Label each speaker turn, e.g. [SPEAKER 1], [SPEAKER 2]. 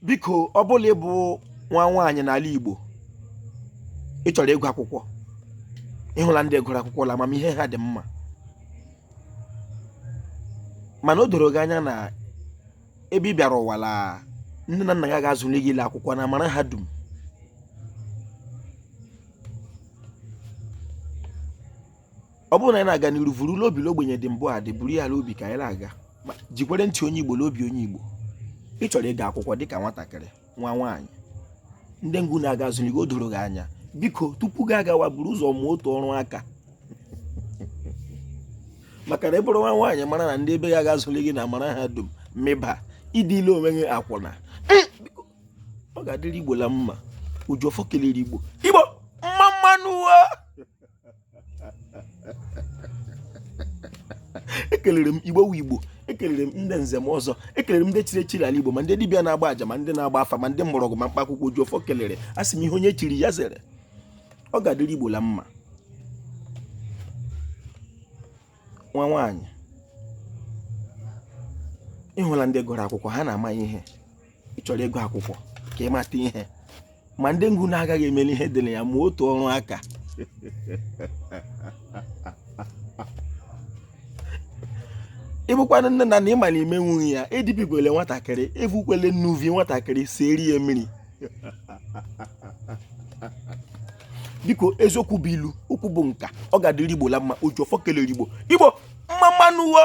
[SPEAKER 1] biko ọ bụ la ị bụ nwa nwaanyị n'ala Igbo ị chọrọ ịgụ akwụkwọ ị hụla ndị gụrụ akwụkwọ la amamihe ha dị mma mana o doro gị anya na ebe ị bịara ụwa la nne na nna gị ga-azụli gị ile akwụkwọ na marahadum ọ bụrụ na anyị na-aga n'iru vuru la obi la ogbenye dị mbụ adị buru ya la obi ka anyị na-aga Ma jikwere ntị onye igbo n'obi onye igbo ị chọrọ ịga akwụkwọ dịka nwatakịrị nwa nwaanyị ndị nga unu aga azụli gị o doro gị anya biko tupu gị agawa buru ụzọ mụọ otu ọrụ aka maka na ị bụrụ nwa nwaanyị mara na ndị ebe ya ga-azụli gị na marahadum mịba ịdị ile onwe gị akwụna Biko, ọ ga-adịrị igbo la mma ojiọfọ kelere igbo igbo mma mma nụ wo ekelere m igbo wu igbo ekelere m ndị nze ma ọzọ ekelere m ndị chiri echiri ala igbo ma ndị dibịa na-agba aja ma ndị na-agba afa ma ndị mgbọrọgwụ ma mkpa akwụkwọ ojiọfọ kelere a sị m ihe onye chiri ya zere ọ ga-adịrị igbo la mma nwa nwaanyị ị hụla ndị gụrụ akwụkwọ ha na-ama ihe ị chọrọ ịgụ akwụkwọ ka ị mata ihe ma ndị nga unu agaghị emeli ihe dị na ya mụọ otu ọrụ aka ị bụkwanụ nne na nna ị ma na ime nwunye ya edibikwele nwatakịrị evukwele nnuvi nwatakịrị sieri ya mmiri biko eziokwu bụ ilu okwu bụ nka ọ ga-adịrị igbo la mma ojiọfọ kelere igbo igbo mma mma nụ wo